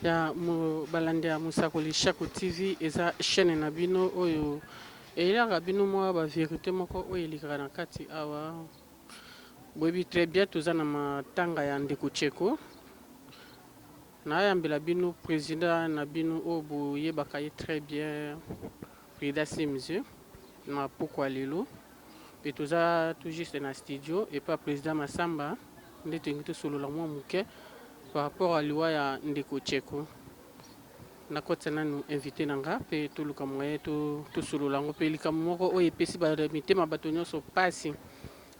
ya balandi ya mosakoli shako tv eza chaîne na bino oyo eyelaka bino mwa baverité moko oyo elekaka na kati awa boyebi très bien toza na matanga ya ndeko cheko nayambela bino président na bino oyo boyebaka ye très bien Frida Sims na pokwa lelo mpe toza tout juste na studio epai ya President Massamba nde tolingi tosolola mwa moke par rapport ya liwa ya ndeko Tsheko. Nakotisa nanu invite na nga mpe toluka moyen to tosolola yango mpe likambo moko oyo epesi ba mitema bato nyonso mpasi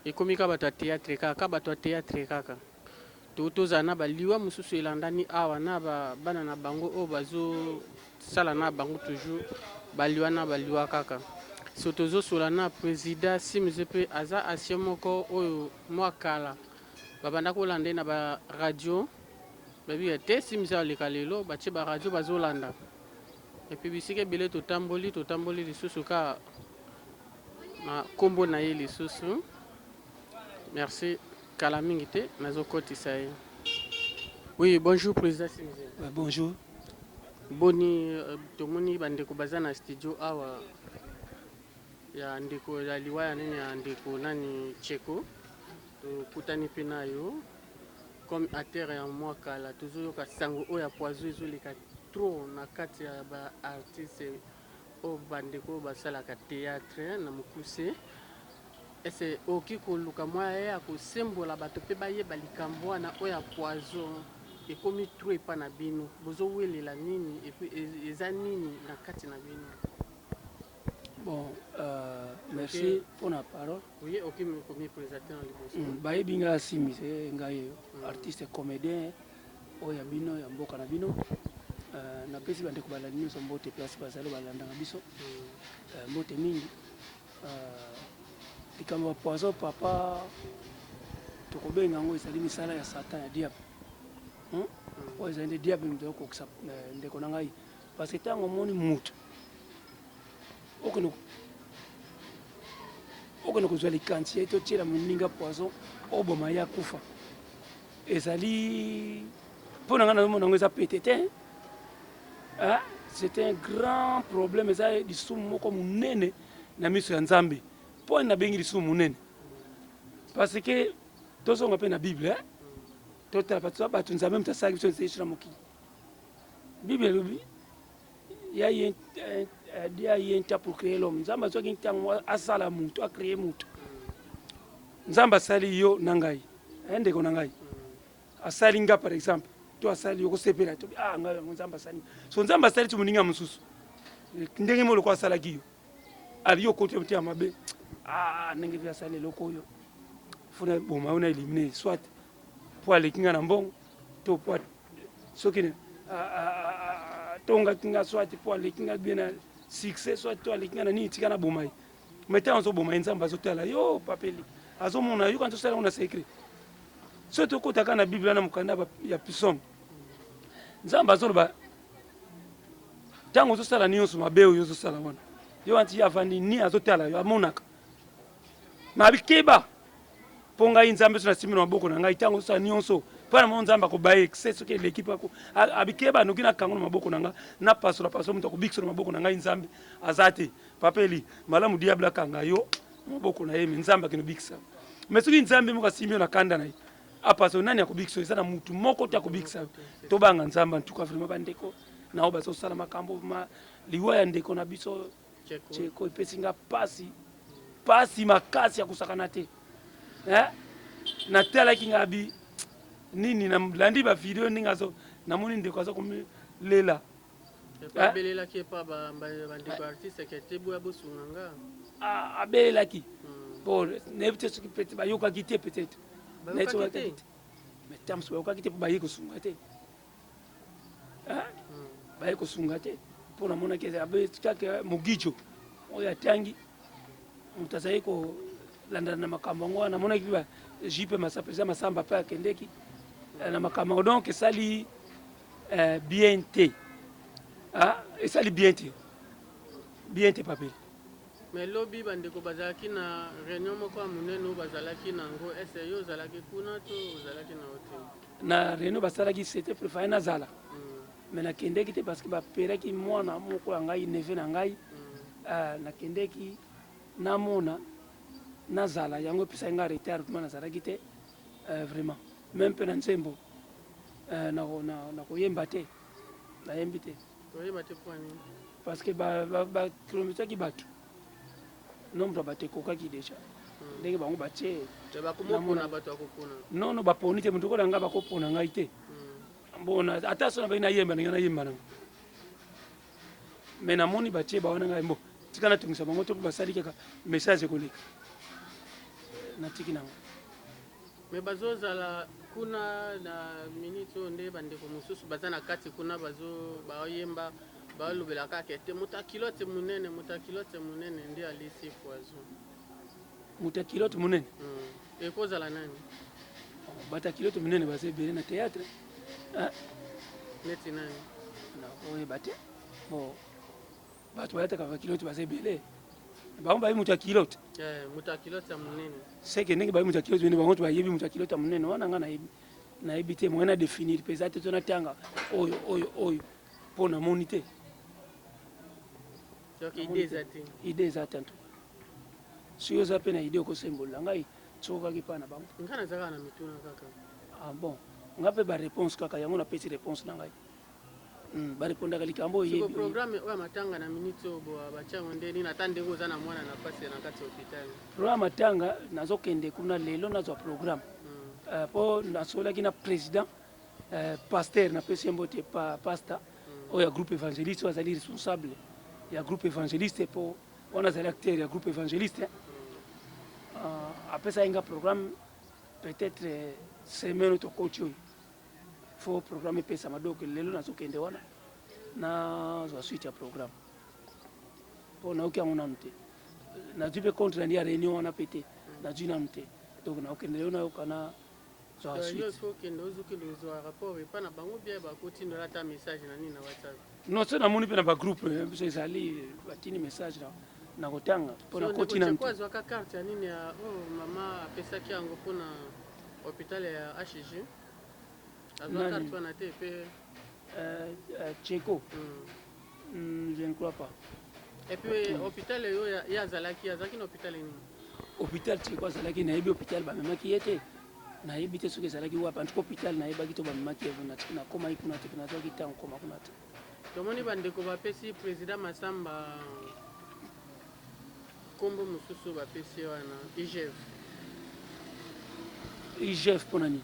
ekomi kaka bato ya theatre kaka kaka bato ya theatre kaka. To tozala na ba liwa mususu elandani awa na ba bana na bango oyo bazo sala na bango toujours ba liwa na ba liwa kaka. So tozo sola na presida Simz pe aza ancien moko oyo mua kala ba banda ko landa ye na ba radio ba bi ya te Simz azo leka lelo ba tie ba radio bazo landa et puis bisika ebele to tamboli to tamboli lisusu ka na kombo na ye lisusu. Merci kala mingi te nazo kotisa ye oui bonjour president Simze. Bah, bonjour. Boni euh, tomoni ba ndeko baza na studio awa ya ndeko ya liwa ya nini ya ndeko nani Cheko tokutani mpe na yo comme atere ya mwa kala tozoyoka sango oyo ya poison ezoleka trop na kati ya ba artiste Oyo ba ndeko oyo basalaka theatre na mukuse est ce okoki koluka moyen ya kosembola batu pe bayeba likambu wana oyo ya poison ekomi trop epa na bino bozo welela nini epuis eza nini na kati na bino. Bon euh, merci okay. pona parole. Oui, oki ko mi presenter na liboso. Mm, bayebi nga simi se nga ye mm. artiste comedien. Oyo ya bino ya mboka na bino. Euh, napesi bandeko balandi nyonso mbote place bazali balandaka biso euh, mbote mingi euh, likambo ya poison papa tokobenga yango ezali misala ya satan ya diable hmm? hmm. oyo ezali nde diable moto okokisa ndeko na ngai parce que ntango omoni moto okende kozwa likansi ye totyela moninga poison oboma ye akufa Ezali pona nga nazomona yango eza pete te hein? c'est un grand problème eza lisumu moko monene na miso ya nzambe mpo wani nabengi lisumu monene parce que tozonga mpe na bible hein? totala bato nzambe moto asalaki biso nse yesu na mokili bible elobi ya ye dia ye nta pour créer l'homme nzambe azwaki ntango asala moto acreye moto nzambe asali yo na ngai eh, ndeko na ngai asali nga par exemple to asali yo kosepela to ah ngai yango nzambe asali so nzambe asali ti moninga mosusu ndenge mo lokola asalaki yo abi yo okoti motema mabe ah ndenge mpe asali eloko oyo fona boma yo na elimine soit po aleki nga na mbongo to po soki atongaki nga soit po aleki nga bien na succès soit to aleki nga na nini tika naboma ye mai ntango azoboma ye nzambe azotala yo papeli azomona yo kanti osala yango na secret soki tokotaka na biblia na mokanda ya pisome nzambe azoloba ntango ozosala nyonso mabe oyo ozosala wana yo wanti ye avandi ni azotala yo amonaka mabikeba mpo ngai nzambe so nasimbi na maboko na ngai ntango sosa nyonso mpo na moko nzambe akobaye ekse soki eleki mpe abikeba anoki na kango na maboko na ngai napasola pasola moto akobikisa na maboko na ngai nzambe aza te papeli malamu diable akanga yo na maboko na ye me nzambe akende obikisa me soki nzambe moko asimbi yo na kanda na ye apaso nani akobikisa eza na mutu moko te akobikisa yo tobanga nzambe antuka vraimen bandeko na oyo bazosala makambo ma liwa ya ndeko na biso Cheko epesi nga pasi pasi makasi ya kosakana te eh? natalaki nga bi nini nalandi ba video ndenge azo namoni ndeko aza komilela abelelaki epa bandeko artiste ke te boya bosunga nga abelelaki po nayebi te soki pete bayokaki te peut-être nayebisaki te mais tams bayokaki te mpo baye kosunga te baye kosunga te mpo namonaki kaka mogijo oyo atangi moto azali kolandana na makambo yango wana namonaki ba jipe masapo eza masamba mpe akendeki eh, na makambo yango donc esali eh, bien te ah, esali bien te bien te papeli me lobi bandeko bazalaki na réunion moko ya monene oyo bazalaki na yango ese yo ozalaki kuna to ozalaki na hotel Na reunion basalaki c'etait pour fallait nazala mais nakendeki te parce que ba peraki mwana moko ya ngai neveu na ngai euh, nakendeki namona nazala yango epesaki ngai retard vraiment nazalaki te euh, vraiment meme mpe na nzembo euh, nakoyemba te nayembi te parce que bakilomisaki bato nombre ya bato ekokaki deja hmm. ndenge bango batie nono baponi te moto okola ngai bakopona ngai te hmm. bona ata so nabaki nayemba ndenge nayemba nango me namoni batie bawana ngai mbo tika natungisa bango to mpe basali kaka message ekoleka natiki nango me bazozala kuna na minute oyo nde bandeko mosusu baza na kati kuna bazoyemba Balobela kaka ete moto ya culotte munene, moto ya culotte munene nde alisi poison. Moto ya culotte munene? Hum, ekozala nani? Bato ya culotte munene baza ebele na theatre. Ah. Neti nani? Na oyeba te. Bon. Bato balataka ba culotte baza ebele. Bango bayebi moto ya culotte. Eh, moto ya culotte ya munene. Seke ndenge bayebi moto ya culotte munene, bango to bayebi moto ya culotte ya munene. Wana nga nayebi. nayebi te moyen na définir mpe eza te to natanga oyo oyo oyo Po na moni te. Donc idee eza te. Idee eza te antuka. Soki oza pe na idee oko sembolela ngai soki okaki pa na bango. Ngai naza kaka na mituna kaka. Ah bon. Nga pe ba reponse kaka yango na pesi reponse na ngai. Hmm, ba repondaka likambo oyebi. Siko programme oyo matanga na minute oyo boa ba chango nde nini ata ndenge oza na mwana na pasi na kati hôpital. Programme matanga nazo kende kuna lelo nazwa programme. Hmm. Uh, po nasolaki na president Eh, pasteur na pesi mbote pa pasta oyo ya groupe evangeliste oyo azali responsable ya groupe evangeliste po wana azali acteur ya groupe evangeliste uh, apesaki nga programme peut-être eh, semaine oyo tokoti oyo fo programme epesama donc lelo nazokende wana nazwa suite ya programme mpo nayoki yango nanu te nazwi mpe compte nandi ya réunion wana mpe te nazwi nanu te donc nakokende lelo nayoka na Zwa suite. Non soki namoni pe na ba groupe na biso ezali batindi message na nakotanga po nakoti nanu te. Azwaka carte ya nini ya oyo mama apesaki yango po na hopital ya HG? Azwa carte wana te pe Cheko. Hum. Hum, je ne crois pas. Et puis hôpital yo ye azalaki azalaki na hôpital nini? Hôpital Tsheko azalaki nayebi hôpital bamemaki ye te nayebi te soki ezalaki wapi antuka hôpital nayebaki to bamemaki ye kuna te nakomaki kuna te kuna azwaki ntango koma kuna te tomoni bandeko bapesi président masamba nkombo mosusu bapesi wana igf igf mpo na nini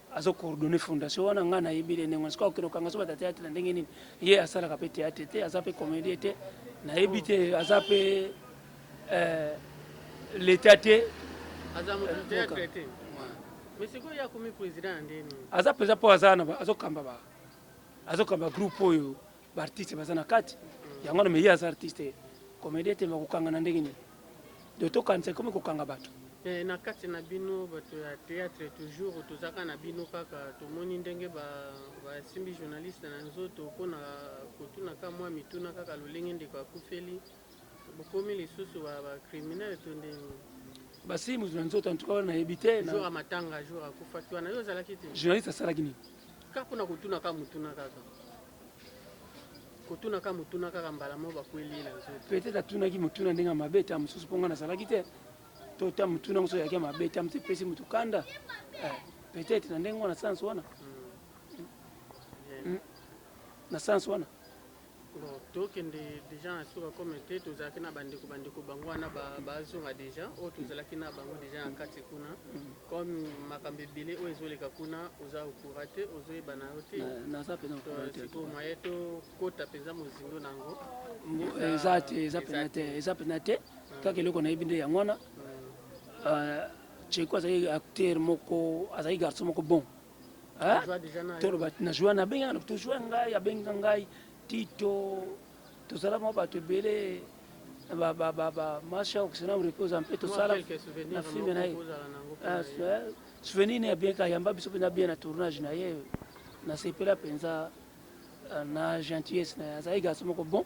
azo coordonner fondation wana nga na yebi le ndenge wana sikoyo akende kokanga so bata théâtre na ndenge nini ye asalaka pe théâtre te aza pe comédien te na yebi te aza pe euh, l'état te aza moto euh, théâtre te mais sikoyo ye akomi président ya ndenge nini aza mpenza mpo aza na azokamba ba azokamba groupe oyo Ba artistes baza na kati yango wana, mais ye aza artiste te, comedien te, mais akokanga na ndenge nini? Donc tokanisa ekomi kokanga bato. Mais na kati na bino bato ya theatre toujours tozalaka na bino kaka tomoni ndenge ba basimbi journaliste na nzoto mpo na kotuna ka mwa mituna kaka lolenge ndeko akufeli bokomi lisusu ba ba criminel to ndenge Basimbi moto na nzoto en tout cas wana nayebi te. jour ya matanga jour akufaki wana yo ozalaki te Journaliste asalaki nini? Kaka pona kotuna kaka motuna kaka kotuna kaka motuna kaka mbala moko bakweli ye na nzoto. Peut-être atunaki motuna ndenge ya mabe ta mosusu mpo ngai nazalaki te to ta motuna mosusu eyaki ya mabe ta mosusu epesi motu kanda eh, peut-être na ndenge wana sans wana hmm. Hmm. na sans wana Bon tokende dejà na suka comme te tozalaki na bandeko bandeko bango wana bazonga dejà oyo tozalaki na bango dejà na kati kuna comme makambo ebele oyo ezoleka kuna oza okura te ozoyeba na yo te sikoyo moye tokota mpenza mozindo na yango eza te eza mpena te eza mpena te kaka eloko nayebi nde yango wana cheko azalaki acteur moko azalaki garçon moko bon toloba na joa na benga to joa ngai abenga ngai tito tozala mwa bato ebele masha okisana reposa mpe tosala na filme na ye ah, souvenir ne ya bien ka yamba biso mpenza bien na tournage na ye nasepela mpenza ah, na gentillesse na ye azali garçon moko bon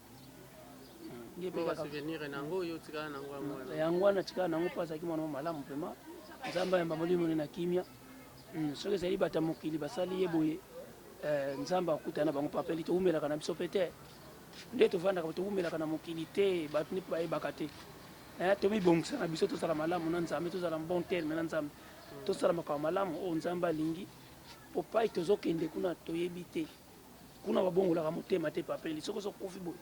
yango wana atikala na yango mpo azalaki mwana mwa malamu mpema nzambe ayamba molimo ne na kimia hmm, soki ezali bato ya mokili basali ye boye eh, nzambe akutana na bango papeli towumelaka na biso mpe te nde tovandaka towumelaka na mokili te bato nde mpe bayebaka te eh, tomibongisa na biso tozala malamu na nzambe tozala bon terme na nzambe tosala makambo malamu oyo nzambe alingi mpo pai tozokende kuna toyebi te Kuna babongolaka motema te papeli soki ozo kufi boye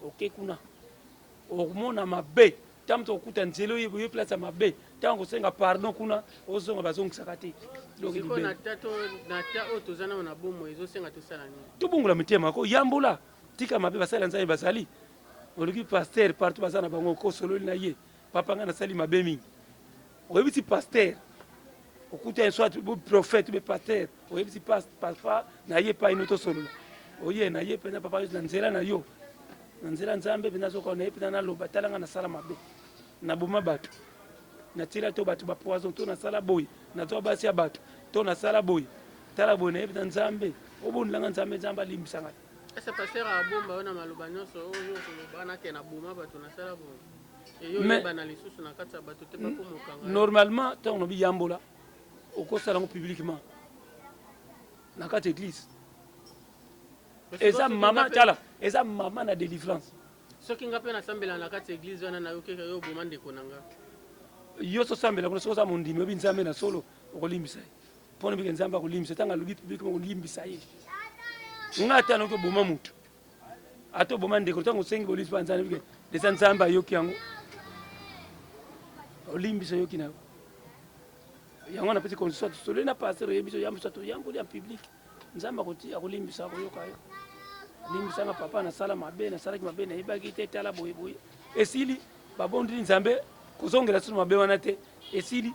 oke kuna okomona mabe ntango moto okuta nzela oyebi oye place ya mabe ntango kosenga pardon kuna ozonga bazongisaka te tobongola mitema ko yambola tika mabe basali ya nzambe bazali oluki paster partout baza na bango kosololi na ye papa ngai nasali mabe mingi oyebi ti pasteur okuta soit prophète be pasteur oyebi ti papa na ye epai no tosolola oye na ye mpenza papa na nzela na yo na nzela nzambe mpenza azokona na ye mpenza naloba tala ngai nasala mabe naboma bato natila to bato bapoison to nasala boye nazwa basi ya bato to nasala boye tala boye na ye mpenza nzambe obondela ngai nzambe nzambe alimbisa ngai Ese pasteur a bomba yo na maloba nionso oyo yo okoloba na ke na boma bato na sala boye eyo oyebana lisusu na kati ya bato te bako mokanga normalement tango na biyambola okosala yango publiquement na kati eglise eza mama tala eza mama na delivrance soki nga mpe nasambela na kati eglise wana nayokeka yo oboma ndeko na nga yo sosambela kuna soki oza mondimi oyebi nzambe na solo okolimbisa ye Mpo na bike Nzambe akolimbisa ntango alobi publiquement kolimbisa ye. Nga ata noki oboma moto ata oboma ndeko ntango osengi bolimbisi mpo na Nzambe bike deja Nzambe ayoki yango olimbisa yoki na yo yango napesi constitution tosoli na pasteur oyebi biso yambo sato yamboli en public nzambe akoti akolimbisa akoyoka yo limbisanga papa nasala mabe nasalaki mabe nayebaki te tala boye boye esili babondeli nzambe kozongela sino mabe wana te esili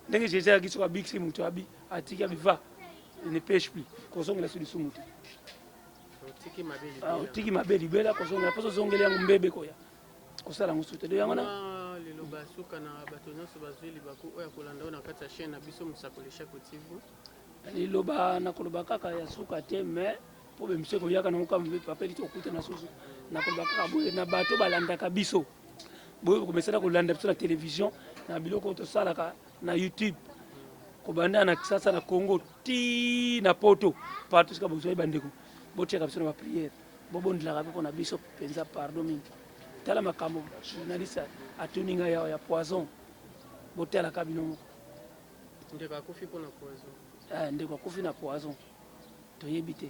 ndenge jesus ayaki soki abikisi moto abi atiki abi va ne peche plus kozongela so lisumu te otiki mabe ah, libela kozongela mposo ozongeli yango mbebe koya kosala yango susu te do yango na liloba suka na bato nyonso bazwi libaku oyo akolanda oyo na kati ya chaine na biso mosakoli shako tivu liloba nakoloba kaka ya suka te mais mpo bemiso ekoyaka nango kama mpe papa eliti kokutana susu nakoloba kaka boye na bato balandaka biso boye komesana kolanda biso na televizio na biloko oyo tosalaka na youtube kobanda na kisasa na congo ti na poto partout sika bozwai bandeko botiaka biso na bapriere bobondelaka mpe mpo na biso mpenza pardon mingi tala makambo journaliste atuni ngai yawa ya poison botalaka bino moko ndeko akufi mpo na poison eh, ndeko akufi na poison toyebi te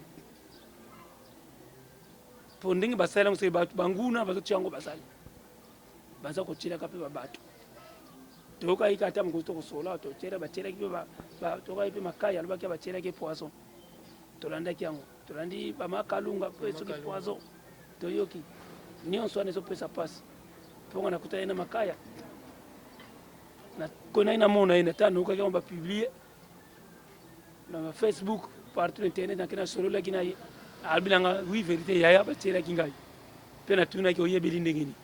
po ndenge basali yango soki bato banguna bazotia yango basali baza kotyelaka mpe babato toyokaki kaka ata mokozi tokosola totyela batyelaki mpe tokaki mpe makai alobaki batyelaki poison tolandaki yango tolandi bamakalunga mpe soki poison toyoki nyonso wana ezopesa mpasi mpo nga nakutani na makaya nakonaki namona ye nata nayokaki yango bapiblie na ba facebook partout internet nake nasololaki na ye alobi na nga oui verité yaya batielaki ngai mpe natunaki oyebeli ndenge nini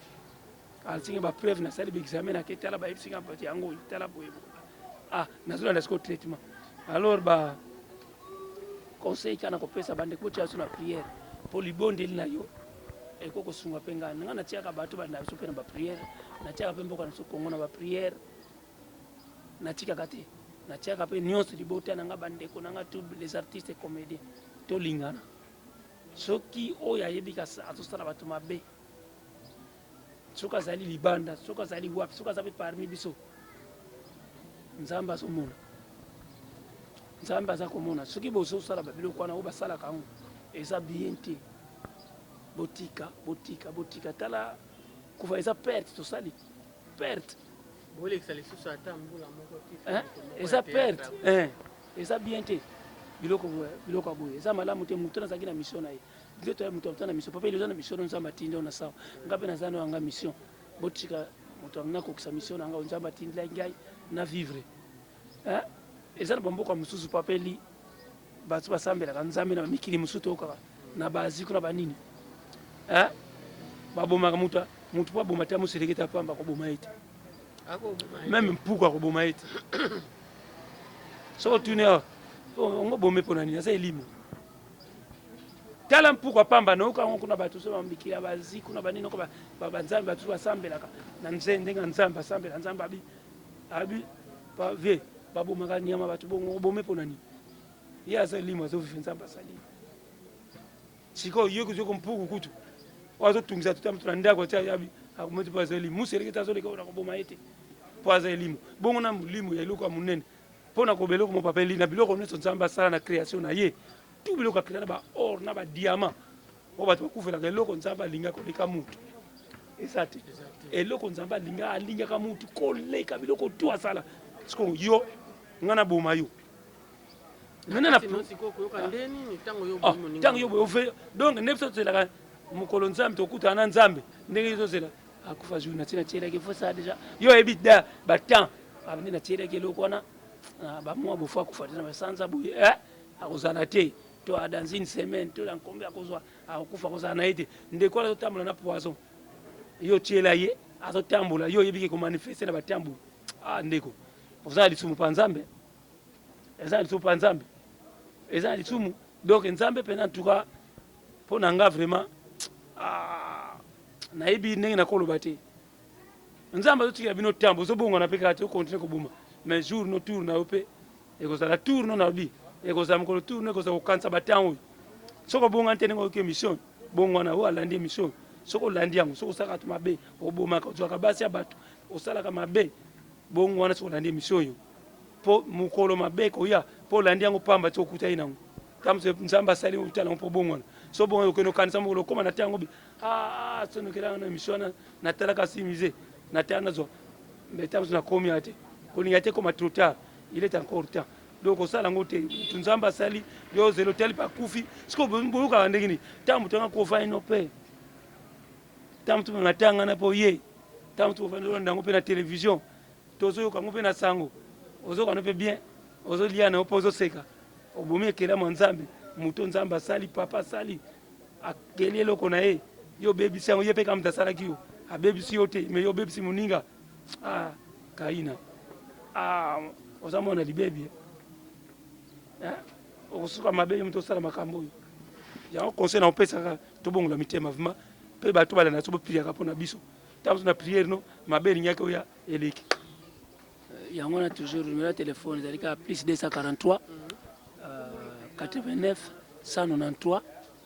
asinga bapreuve nasali baexame nake tala bayebisi nga bati yango oyo tala boye ah nazolanda siko traitement alors ba conseil kana kopesa bandeko botia biso na priere mpo libondeli na yo ekoki kosunga mpe ngai ngai natiaka bato banda biso mpe na bapriere natiaka mpe mboka na biso kongo na bapriere natikaka te natiaka pe nionso libota na nga ba ndeko na nga tout les artistes comediens tolingana soki oyo ayebi azosala bato mabe soki azali libanda soki azali wapi soki aza pe parmi biso nzambe azomona nzambe aza komona soki bozosala babiloko wana oyo basalaka yango eza bien te botika botika botika tala kufa eza perte tosali perte bolekisa lisusu ata mbula moko te eh, eza perte eh, eza bien te biloko biloko boye eza malamu te moto nazalaki na mission na ye bino toya moto aza na mission papa eza na mission nzambe atindi yo na sawa nga mpe naza na yanga mission botika moto yango nakokisa mission na ngai nzambe atindilaki ngai na vivre eh, eza na bamboka mosusu papa eli Batu basambelaka nzambe na mikili mosusu toyokaka na ba Asie kuna ba nini eh? babomaka mutu mutu po aboma te amoselekete ya pamba akoboma ye te meme mpuku akoboma ye te soki otuni awa ongo bome mpo na nini aza elimo tala mpuku apamba nayoka yango kuna bato so mikili ya bazi kuna banini oko banzambe bato basambelaka na nze ndenge ya nzambe asambela nzambe abi Abi pa vie ba bomaka niama batu bongo obome pona nini ye aza elimo azo vive nzambe asali sikoyo yo kutu yoko mpuku kutu oyo azo tungisa tuta mutu na ndako tia yabi akometi po aza elimo musu eleki te azo leka ona koboma ye te po aza elimo bongo na molimo ya eloko ya monene mpo na koba eloko mopapeli na biloko nyonso nzambe asala na création na ye tu biloko akela na ba or na ba diamant Oyo bato bakufelaka eloko Nzambe alinga koleka mutu eza te. Eloko Nzambe alinga alingaka mutu koleka biloko tu asala. Siko yo nga na boma yo ntango ah, yo boye donc nde biso tozelaka mokolo nzambe tokutana na nzambe ndenge yo tozela akufa jour nati natielaki fo sa deja yo oyebi da batemp abandi ah, natielaki eloko wana ah, bamwa bofo akufa te na basanza boye eh, akozala te to a dans une semaine to na nkombo ya kozwa akokufa kozala na ye te ndeko wana azotambola na poison yo otyela ye azotambola yo oyebi ke komanifeste na batamboli ah ndeko oza na lisumu mpa nzambe eza na lisumu mpa nzambe eza na lisumu donc nzambe mpenza antuka mpo na nga vraiment ah, nayebi ndenge nakoloba te nzambe azotikela bino ntambo ozobongwana mpe kaka te okontinue koboma mais jour no tour na yo mpe Ekozala tour no na bi ekozala mokolo tour no ekozala kokanisa ba temps oyo soki obongani te ndenge oyoki emission bongwana oyo alandi emission oyo soki olandi yango soki osalaka bato mabe obomaka ozwaka basi ya bato osalaka mabe bongwana soki olandi emission oyo mpo mokolo mabe ekoya mpo olandi yango pamba ti okutaki nango tamso nzambe asali uta nango mpo bongwana so bongwana okende okanisa mokolo okoma na te yango bi ah, sonokelanga na emission wana natalaka si musee natala nazwa mais tamso nakomi ya te kolinga te ekoma trop tard il est encore temps donc kosala yango te motu nzambe asali yo zelo tali mpe akufi siko boyokaka ndenge nini ntango motu yanga kofa ino mpe ntango motu banga tangana mpe oye ntango motu ofandi olanda yango mpe na televizio tozoyoka yango mpe na sango ozokana mpe bien ozolia na yo mpe ozoseka obomi ekelamo ya nzambe moto nzambe asali papa asali akeli eloko na ye yo obebisi yango ye mpe kaka moto asalaki yo abebisi yo te me yo obebisi moninga Ah Kaina ah oza mwana libebi eh okosuka mabe yo moto osala makambo oyo yango conseil na opesaka tobongola mitema vraiment mpe bato balanda so bopriaka mpo na biso ntango na priere no mabe elingaki oya eleki yango na toujours numero ya telefone ezali kaka plus 243 89 193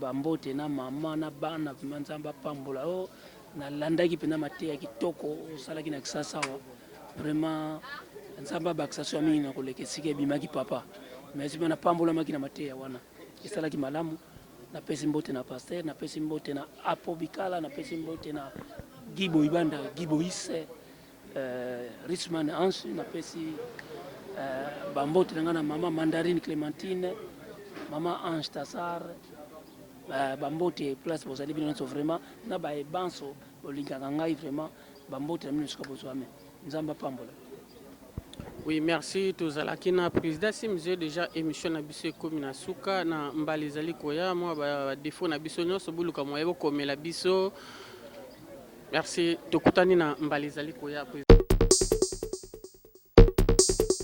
Ba mbote na maman na bana vraiment nzambe apambola yo na landaki pena mateya kitoko osalaki na kisasa awa vraiment nzambe abakisa soa mingi na koleka esika ebimaki papa merci bana pambolamaki na mateya wana esalaki malamu na pesi mbote na pasteur na pesi mbote na apo bikala na pesi mbote na gibo ibanda gibo ise Richman Hanshi na pesi ba mbote na nga na maman Mandarine Clementine, maman Ange Tassar, ba mbote place bozali bino nionso vraiment na baye banso bolingaka ngai vraiment ba mbote na bino esika bozwami. Nzambe apambola. Oui merci tozalaki na president Simzio dejà emission na biso ekomi na suka na mbala ezali koya mua ba defaut na biso nionso boluka moyen bokomela biso. Merci tokutani na mbala ezali koya.